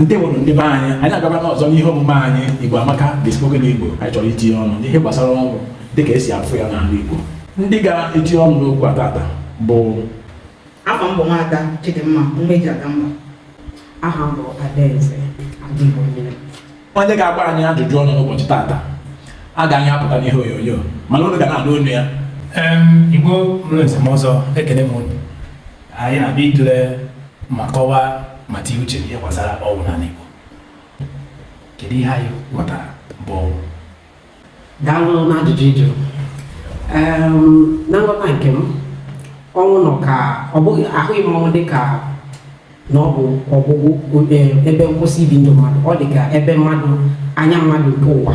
ndewonụ ndị be anyị anyị agaba n'ọzọ n'ihe omume anyị igbo amaka the spoken igbo anyị chọrọ itinye ọnụ n'ihe gbasara ọnwụ dị ka e si afụ ya n'ala igbo ndị ga-etinye ọnụ n'okwu a tata bụ afa m bụ nwada chidimma nwa eji aga mba aha m bụ adaeze adịghị onye onye ga-agba anyị ajụjụ ọnụ n'ụbọchị tata agaghị apụta n'ihe onyonyo mana unu ga na-anụ onu ya Em, Igbo mụrụ esemọzọ ekele m unu anyị na-abịa itule ma kọwaa ma tinye uche n'ihe gbasara ọnwụ n'ala Igbo kedu ihe anyị ghọtara bụ ọnwụ daalụ n'ajụjụ ị jụrụ na nghọta nke m ọnwụ nọ ka ọ bụ ahụrụ m ọnwụ dị ka na ọ bụ ọgwụgwụ ebe nkwụsị ibi ndụ mmadụ ọ dị ka ebe mmadụ anya mmadụ nke ụwa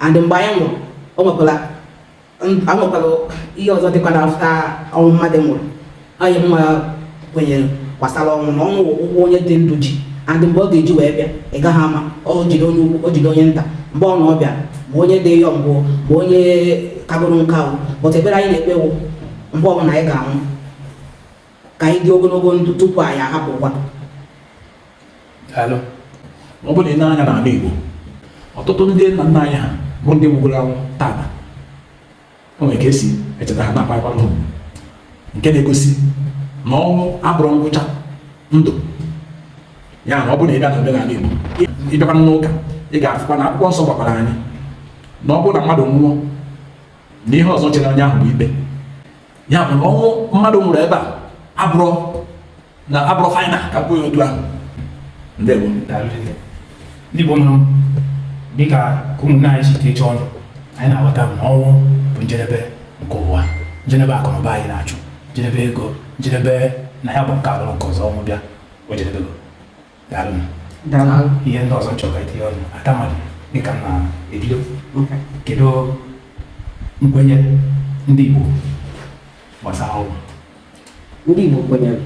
and mgbe anyị nwụrụ o nwekwara anwekwara ihe ọzọ dịkwa na after ọnwụ mmadụ nwụrụ anyị nwa kwenyere gbasara ọnwụ na ọnwụ wụ ụgwọ onye dị ndụ ji and mgbe ọ ga-eji wee bịa ị gaghị ama o jide onye ukwu o jide onye nta mgbe ọ na-abịa ma onye dị young ma onye kagoro nka but ekpere anyị na-ekpe wụ mgbe ọbụla anyị ga-anwụ ka anyị dị ogologo ndụ tupu anyị ahapụkwa Daalụ. ọ bụrụ na i nee anya n'ala Igbo ọtụtụ ndị nna nna anyị ha bụ ndị nwụgoro anwụ tata o nwere ka e si echeta ha na-akwakwa ha nke na-egosi na ọnwụ abụrọ ngwụcha ndụ ya na ọ bụrụ na ị bịa na omenala Igbo ị bịakwa n'ụka ị ga-afụkwa na akwụkwọ nsọ gwakwara anyị na ọ bụrụ na mmadụ nwụọ na ihe ọzọ chere onye ahụ bụ ikpe ya bụ na ọnwụ mmadụ nwụrụ ebe a abụrọ abụrọ final ka m kwuo ya otu ahụ ndewo ndị Igbo mụrụ dịka ka ụmụnne anyị si tinye ọnụ anyị na-aghọta na ọnwụ bụ njedebe nke ụwa njedebe akụnụba anyị na-achụ njedebe ego njedebe na ya bụ nke abụrụ nke ọzọ ọnwụ bịa o jedebego ihe ndị ọzọ chọrọ itinye ọnụ atamadi dịka m na-ebido kedu nkwenye ndị Igbo gbasara ọnwụ ndị Igbo kwenyere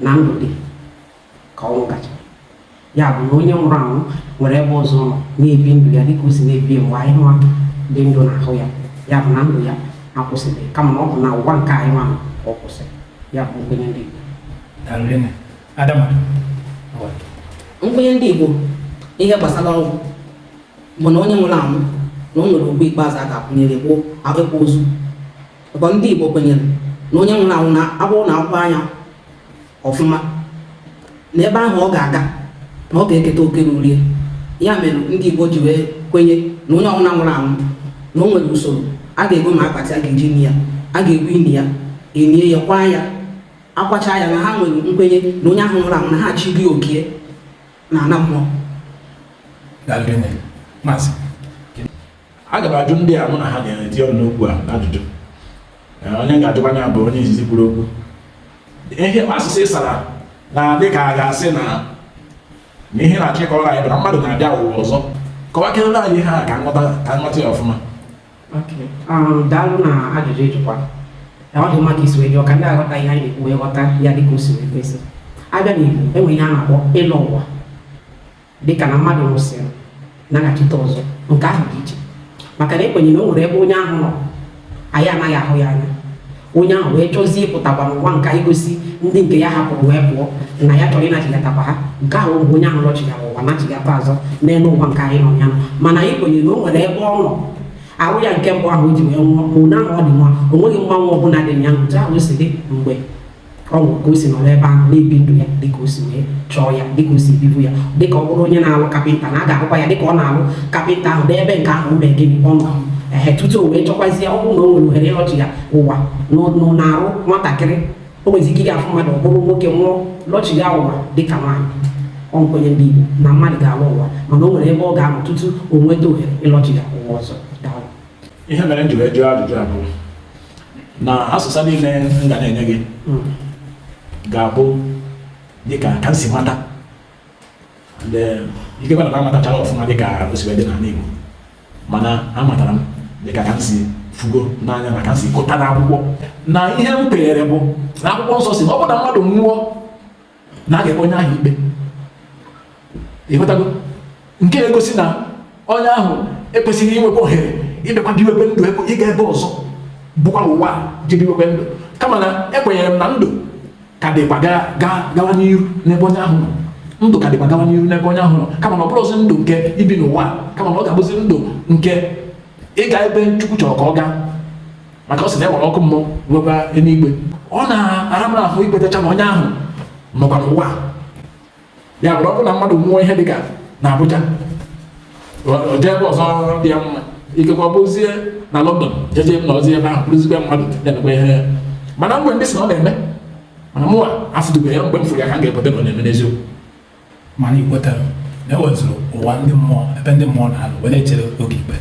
na ndụ dị ka ọnwụ gachaa ya bụ na onye nwụrụ anwụ nwere ebe ọzọ ọ na-ebi ndụ ya dịka o si na-ebi mgbe anyị nwa dị ndụ na-ahụ ya ya bụ na ndụ ya akwụsịrọ kama na ọ bụ na ụwa nke anyị nwa ọ kwụsịrị ya bụ nkwenye ndị Igbo Adama, nkwenye ndị Igbo ihe gbasara ọnwụ bụ na onye nwụrụ anwụ na o nwere ugwu ikpeazụ a ga-akwanyere ya bụ akwam ozu ọkwa ndị Igbo kwenyere na onye nwụrụ anwụ na ọ bụrụ na a kwaa ya ọfụma na ebe ahụ ọ ga-aga na ọ ga-eketa oke ruru ya mere ndị Igbo ji wee kwenye na onye ọbụla nwụrụ anwụ na o nwere usoro a ga-ego ma akpati a ga-eji ni ya a ga-egwu ini ya enie ya kwaa ya akwacha ya na ha nwere nkwenye na onye ahụ nwụrụ anwụ na ha chi dị okie n'ana mmụọ aga m ajụ ndị a mụ na ha ga-eti ọnụ n'okwu a ajụjụ onye ga-ajụkwa ya bụ onye izizi kwuru okwu ihe asịsa ị sara na dị ka a ga-asị na na ihe ị na-achọ ịkọrọ anyị bụ na mmadụ na-abịa ụwa ọzọ kọwakere anyị ihe a ka m ghọta ya ọfụma Um, daalụ na ajụjụ ị jụkwa na ọ dị mma ka i si wee jụọ ka ndị a ghọta ihe anyị na-ekwu wee ghọta ya dịka o si wee kwesị a bịa n'Igbo e nwe ihe a na-akpọ ịlọ ụwa dịka na mmadụ nwụsịrị naghachite ọzọ nke ahụ dị iche maka na e kwenye na o nwere ebe onye ahụ nọ anyị anaghị ahụ ya anya onye ahụ wee chọzie ịpụtakwa n'ụwa nke anyị gosi ndị nke ya hapụrụ wee pụọ na ya chọrọ ịnachigatakwa ha nke ahụ bụ onye ahụ lọchigara ụwa nachigata azụ n'elu ụwa nke anyị nọ ya mana anyị kwenyere na o nwere ebe ọ nọ ahụ ya nke mbụ ahụ o ji wee nwụọ ma onye ahụ ọ dị nwa o nweghị mgbanwe ọbụla dị ya otu ahụ o si dị mgbe ọ bụ ka o si nọ n'ebe ahụ na-ebi ndụ ya dịka o si wee chọọ ya dịka o si bibu ya dịka ọ bụrụ onye na-alụ kapịnta na a ga-ahụkwa ya dịka ọ na-alụ kapịnta ahụ n'ebe nke ahụ o mee gịnị ọ nọ ehe tutu o wee chọkwazie ọ bụrụ na o nwere ohere ịlọchiga ụwa n'ụ- n'arụ nwatakịrị o nwezi ike ga-afụ mmadụ ọ bụrụ nwoke nwụọ lọchiga ụwa dịka nwaanyị ọ nkwenye ndị Igbo na mmadụ ga-alọ ụwa mana o nwere ebe ọ ga-anọ tutu o nweta ohere ịlọchiga ụwa ọzọ daalụ ihe mere m ji wee jụọ ajụjụ a bụ na asịsa niile m ga na-enye gị mm. ga-abụ dịka ka m si mata eh, ikekwa na amatachara ọfụma dịka o si wee dị n'ala Igbo mana amatara m dịka ka m si fụgo n'anya na ka m si gụta n'akwụkwọ na ihe m kweere bụ na akwụkwọ nsọ sị na ọ bụ na mmadụ nwụọ na a ga-ekpe onye ahụ ikpe ị ghọtago nke na-egosi na onye ahụ ekwesịghị inwekwa ohere ịbịakwa biwekwe ndụ ebe ịga ebe ọzọ bụkwa n'ụwa je biwekwe ndụ kama na ekwenyere m na ndụ ka dịkwa ga- ga- gawa n'iru n'ebe onye ahụ nọ ndụ ka dịkwa gawa n'iru n'ebe onye ahụ nọ kama na ọ bụrọzi ndụ nke ibi n'ụwa kama na ọ ga-abụzi ndụ nke ịga ebe Chukwu chọrọ ka ọ gaa maka ọ sị na e nwere ọkụ mmụọ nwekwa eluigwe ọ na-ara m ahụ ikwetacha na onye ahụ nọkwa n'ụwa ya bụrụ ọ bụ na mmadụ nwụọ ihe dịka na Abuja jee ebe ọzọ dị ya mma ikekwa ọ bụzie na London je jee nọzie ebe ahụ bụrụzikwa mmadụ na-emekwa ihe mana e nwe ndị sị na ọ na-eme mana mụwa afụtụbeghị ya mgbe m fụrụ ya ka m ga-ekweta na ọ na-eme n'eziokwu mana ekwetara m na e nwezịrị ụwa ndị mmụọ ebe ndị mmụọ na-anọ wee na-echere oge ikpe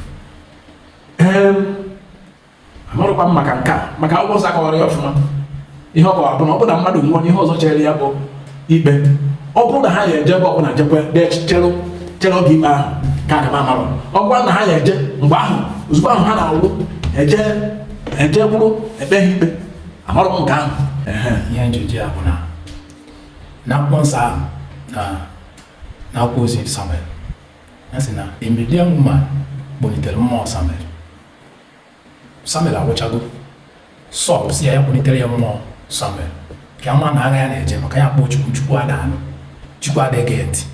amarọkwa m maka nke a maka akwụkwọ nsọ akọwarọ ya ọfụma ihe ọ kọwara bụ na ọ bụrụ na mmadụ nwụọ na ihe ọzọ chere ya bụ ikpe ọ bụrụ na ha ya eje ebe ọbụla jekwe chere chere oge ikpe ahụ ka aga m amarọ ọ bụrụ na ha ya eje mgbe ahụ ozugbo ahụ ha nwụrụ eje eje kwụrụ ekpe ha ikpe amarọ m nke ahụ ihe m ji ajụ ya bụ na na akwụkwọ nsọ ahụ na akwụkwọ ozi Samuel a sị na a medium woman kpọlitere mmụọ Samuel Samuel anwụchago Sọl sị ya ya kpọlitere ya mmụọ Samuel ka ama na agha ya na-eje maka ya kpọọ Chukwu Chukwu ada anụ Chukwu ada ege ntị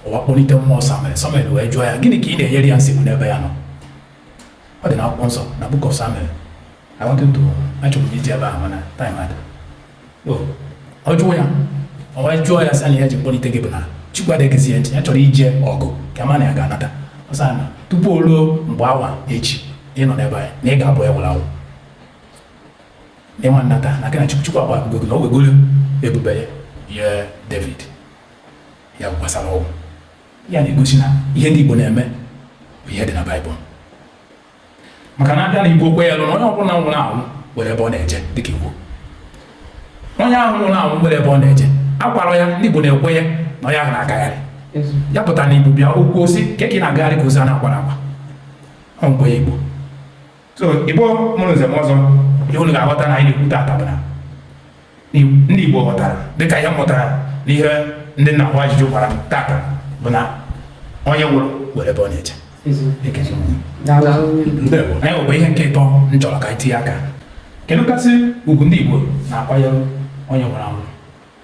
o wee kpọlite mmụọ Samuel Samuel wee jụọ ya gịnị ka ị na-enyere ya nsogbu n'ebe ya nọ Ọ dị n'akwụkwọ nsọ na Book of Samuel. I wanted to achọrọ m iji ebe ahụ mana time ada. So, ọ jụọ ya ọ wee jụọ ya sị na ya ji kpọlite gị bụ na Chukwu adịghịzi ya ntị ya chọrọ ije ọgụ ka ma na ya ga-anata. Ọ sị na tupu o ruo mgbe a nwa echi ị nọ n'ebe anyị na ị ga-abụ onye nwụrụ anwụ. Na ị ma anata na gị na Chukwu Chukwu agbahapụgo gị na o wegoro ebube ya nye David ya gwasara ọgwụ. ya na-egosi na ihe ndị Igbo na-eme bụ ihe dị na Baịbụl maka na abịa na Igbo kwenyelụ na onye ọbụla nwụrụ anwụ nwere ebe ọ na-eje dịka Igbo onye ahụ nwụrụ anwụ nwere ebe ọ na-eje akwarọ ya ndị Igbo na-ekwenye na onye ahụ na-agagharị ya pụta na Igbo bịa kwuo sị ka ị na-agagharị ka ozu a na-akwarọ akwa ọ nkwenye Igbo so igbo mụrụ nze mụọ ọzọ ihe unu ga-aghọta na anyị na-ekwu tata bụ na ndị igbo ghọtara dịka ihe mụtara na ihe ndị m na-agba ajụjụ gwara m tata bụ na onye nwụrụ nwere ebe ọ na-eje anyị nwekwa ihe nke ịtọ m chọrọ ka anyị tinye aka kedu kasị ugwu ndị igbo na-akwanyere onye nwụrụ anwụ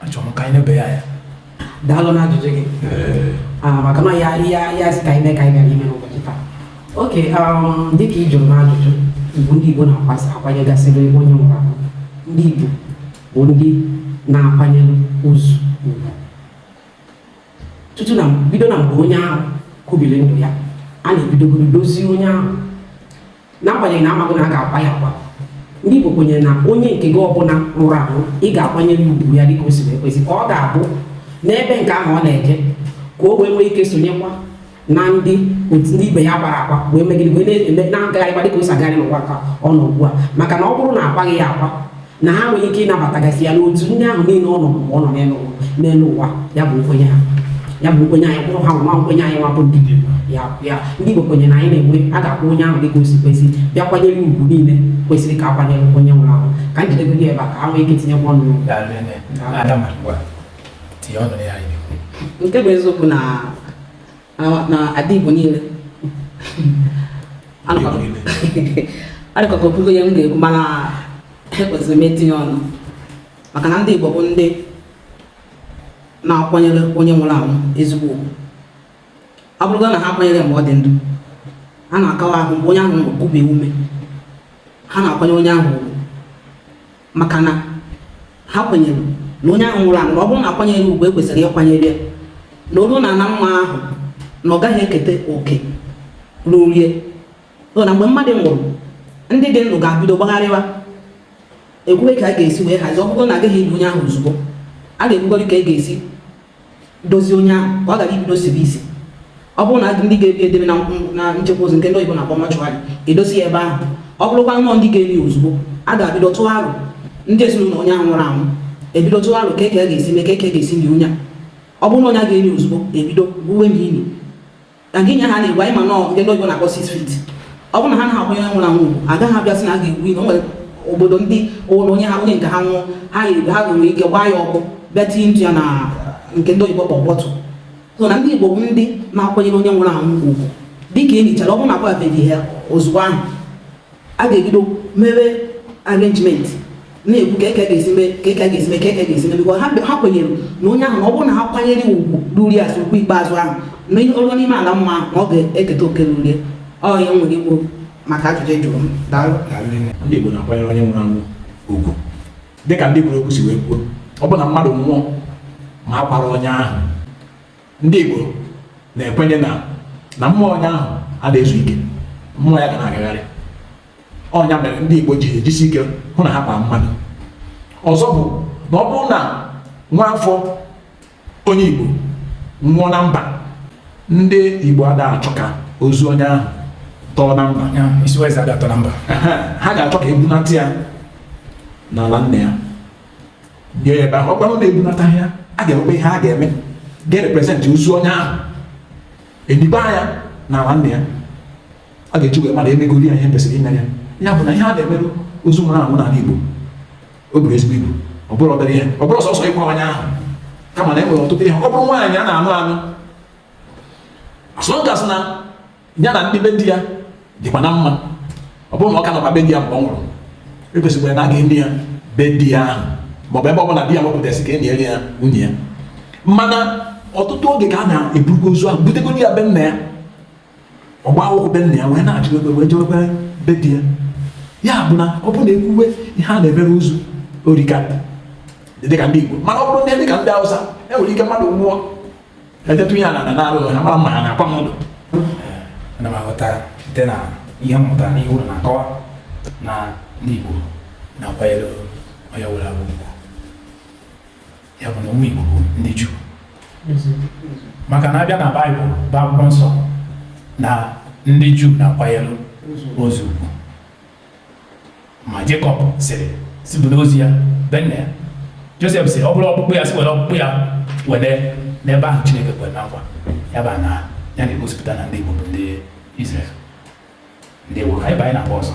achọrọ m ka anyị nebe ya anya daalụ na ajụjụ gị Ah, maka na ya ya ya si ka anyị mee ka anyị bịara ime n'ụbọchị taa okay um, dịka ị jụrụ m ajụjụ bụ ndị igbo na-akwasị akwanyegasịrị onye nwụrụ anwụ ndị igbo bụ ndị na-akwanyere ozu ugwu tutu na bido na mgbe onye ahụ kubiri ndụ ya a na-ebidogodo dozie onye ahụ n'agbanyeghị na amago na a ga-akwa ya akwa ndị Igbo kwenyere na onye nke gị ọbụla nwụrụ anwụ ị ga-akwanyere ugwu ya dịka o si wee kwesị ka ọ ga-abụ n'ebe nke ahụ ọ na-eje ka o wee nwee ike sonyekwa na ndị otu ndị ibe ya a kwara akwa wee megide wee na-eme na-agagharịkwa dịka o si agagharị n'ụwa nke a ọ nọ ugbu a maka na ọ bụrụ na akwaghị ya akwa na ha enweghị ike ịnabatagasị ya n'otu ndị ahụ niile ọ nọ mgbe ọ nọ n'elu ụwa ya bụ nkwenye ha ya bụ nkwenye anyị kwụrụ ha nwa nkwenye anyị nwa bụ ndị ya ya ndị Igbo kwenye na anyị na-enwe a ga-akwa onye ahụ dịka osi kwesị bịa kwanyere ugwu niile kwesịrị ka akwanyere onye nwụrụ ahụ ka m jidego gị ebe a ka ha nwee ike tinyekwa ọnụ nke bụ eziokwu na na ada Igbo niile ọ dịka o kwugo ihe m ga-ekwu mana ekwesịrị m itinye ọnụ maka na ndị Igbo bụ ndị na-akwanyere onye nwụrụ anwụ ezigbo ugwu ọ bụrụgo na ha akwanyere mgbe ọ dị ndụ ha na-akawa ahụ mgbe onye ahụ nwụrụ kubie ume ha na-akwanyere onye ahụ ugwu maka na ha kwenyere na onye ahụ nwụrụ anwụ ọ bụrụ na akwanyere ugwu ekwesịrị ịkwanyere ya na o lu na ana mmụọ ahụ na ọ gaghị eketa oke ruru ya so na mgbe mmadụ nwụrụ ndị dị ndụ ga-abido gbagharịwa ekwuwe ka a ga-esi wee hazie ọ bụrụ na agaghị eli onye ahụ ozugbo a ga-ekwugori ka e ga-esi dozie onye ahụ ka ọ ghara ibido sibe isi ọ bụrụ na ndị ga-ebu edebe na nchekwa ozu nke ndị oyibo na-akpọ mortuary edozi ya ebe ahụ ọ bụrụkwa nnọọ ndị ga-eni ozugbo a ga-abido tụwa aro ndị ezinụlọ onye ahụ nwụrụ anwụ ebido tụwa aro ka eke ga-esi mee ka eke ga-esi nie onye ọ bụrụ na onye a ga-eni ozugbo ebido gwuwe ini na gị nye ha na-egwu anyị ma nọ nke ndị oyibo na-akpọ six feet ọ bụrụ na ha anaghị akwanyere onye nwụrụ anwụ ugwu agaghị abịa sị na a ga-egwu ihe o nwere obodo ndị ụlọ onye ha onye nke ha nwụọ ha ga-egbu ha nwere ike gbaa ya ọkụ bịa tinye ntụ ya na nke ndị oyibo kpọrọ bottle so na ndị igbo bụ ndị na-akwanyere onye nwụrụ anwụ ugwu dịka e nichara ọ bụrụ na akwabeghị ya ozugbo ahụ a ga-ebido mebe arrangement na-ekwu ka eke ga-esi mee ka eke ga-esi mee ka eke ga-esi mee because ha kwenyere na onye ahụ na ọ bụrụ na ha kwanyere ya ugwu ruru ya as ugwu ikpeazụ ahụ na o ruo n'ime ala mmụọ ahụ na ọ ga-eketa oke ruru ya ọ ya nwere ikwu maka ajụjụ a jụrụ m daalụ ndị Igbo na-akwanyere onye nwụrụ anwụ ugwu dịka ndị kwuru okwu si wee kwuo ọ bụ na mmadụ nwụọ ma akwarọ onye ahụ ndị Igbo na-ekwenye na na mmụọ onye ahụ ada ezu ike mmụọ ya ga na-agagharị ọ nya mere ndị Igbo ji ejisi ike hụ na ha kwaa mmadụ ọzọ bụ na ọ bụrụ na nwa afọ onye Igbo nwụọ na mba ndị Igbo ada achọ ka ozu onye ahụ tọọ na mba ada atọ na mba ha ga-achọ ka ebunata ya n'ala nne ya nie ya ebe ahụ ọ bụrụ na ebunataghị ya a ga-enwekwa ihe a ga-eme ga-erepresent ozu onye ahụ eniba ya na ala nna ya a ga-eji wee mara na emegori ya ihe kwesịrị imere ya ya bụ na ihe a na-emere ozu nwụrụ anwụ n'ala Igbo o buru ezigbo ibu ọ bụrọ obere ihe ọ bụrọ sọsọ ịkwa onye ahụ kama na e nwere ọtụtụ ihe ọ bụrụ nwaanyị a na-anụ anụ as long as na ya na ndị be di ya dịkwa na mma ọ bụrụ na ọ ka nọkwa be di ya mgbe ọ nwụrụ ekwesịkwara na a ga-eni ya be di ya ahụ maọbụ ebe ọ bụla di ya wepụtasị ka e niere ya nwunye ya mana ọtụtụ oge ka a na-eburugo ozu ahụ butegori ya be nna ya ọgba akwụkwọ be nna ya wee na-achụ ebe wee jewekwa be di ya ya bụ na ọ bụrụ na ekwuwe ihe a na-emere ozu o rika dịka ndị Igbo mana ọ bụrụ ndị dịka ndị Hausa enwere ike mmadụ nwụọ etetụ ihe a na na-arụ ha mara mma ha na-akwa m ụlọ ana m aghọta site na ihe m mụtara n'ihe ụlọ na-akọwa na ndị Igbo na-akwanyere onye ọbụla ugwu ya bụ na ụmụ Igbo bụ ndị Juu maka na abịa na Baịbụl bụ akwụkwọ nsọ na ndị Juu na-akwanyere ozu ugwu ma Jekọb sịrị sị bunaa ozu ya be nna ya Josef sịrị ọ bụrụ ọkpụkpụ ya sị were ọkpụkpụ ya wenaa n'ebe ahụ Chineke kwere na nkwa ya bụ na ya na-egosipụta na ndị Igbo bụ ndị Izrel ndị Igbo ka anyị banye n'agba ọzọ